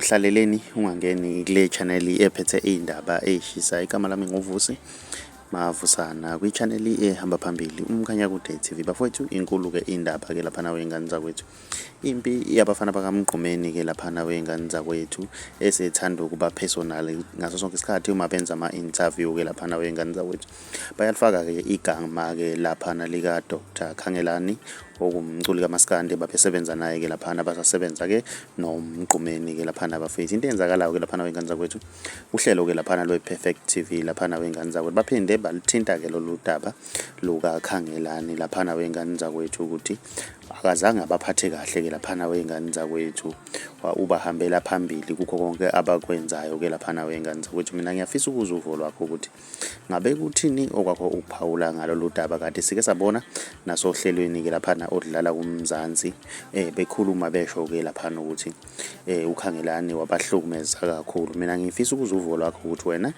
hlaleleni ungangeni kule channel ephethe iy'ndaba ey'shisa igama lami nguvusi mavusana kwi-channel ehamba phambili umkhanya kude tv bafowethu inkulu-ke indaba-ke laphana wey'ngane zakwethu impi yabafana bakamgqumeni-ke laphana wey'ngane zakwethu esethanda ukuba personal ngaso sonke isikhathi uma benza ama-interview-ke laphana wey'ngane zakwethu Bayalifaka-ke igama-ke laphana lika-Dr Khangelani okumculi kamaskandi babesebenza naye-ke laphana basasebenza-ke nomgqumeni-ke laphana bafethu into eyenzakalayo-ke laphana wey'ngane zakwethu uhlelo-ke laphana lwe-perfect t v laphana wey'ngane zakwethu baphinde baluthinta-ke lolu daba lukakhangelani laphana wey'ngane zakwethu ukuthi akazange abaphathe kahle-ke laphana wey'ngane zakwethu ubahambela phambili kukho konke abakwenzayo-ke laphana wey'ngane zakwethu mina ngiyafisa ukuzwa uvo lwakho ukuthi Ngabe kuthini okwakho ukuphawula ngalolu daba kanti sike sabona nasohlelweni-ke laphana oludlala kuMzansi eh bekhuluma besho-ke laphana ukuthi eh uKhangelani wabahlukumeza kakhulu mina ngifisa ukuzwa uvo lwakho ukuthi wena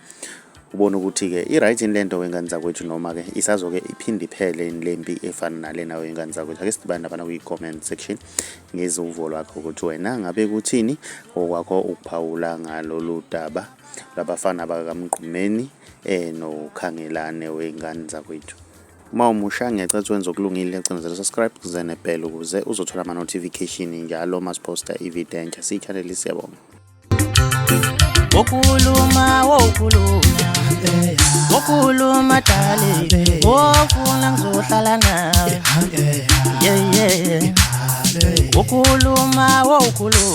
ubona ukuthi-ke i-right yini le nto wengane zakwethu noma-ke isazoke iphinde iphele yini le mpi efana nalena wengane zakwethu ake sidibane labana kwi-comment section ngeziwuvo lwakho ukuthi wena ngabe kuthini okwakho ukuphawula ngalolu daba labafana bakaMgqumeni eh noKhangelane wey'ngane zakwethu uma umusha ngiyacela ukuthi wenze okulungile cindezela subscribe kuze nebhela ukuze uzothola ama-notification njalo uma siphosta ivideo entsha siyichaneli siyabonga wokuluma wokuluma wokuluma dali wofuna ngizohlala nawe yeah yeah wokuluma wokuluma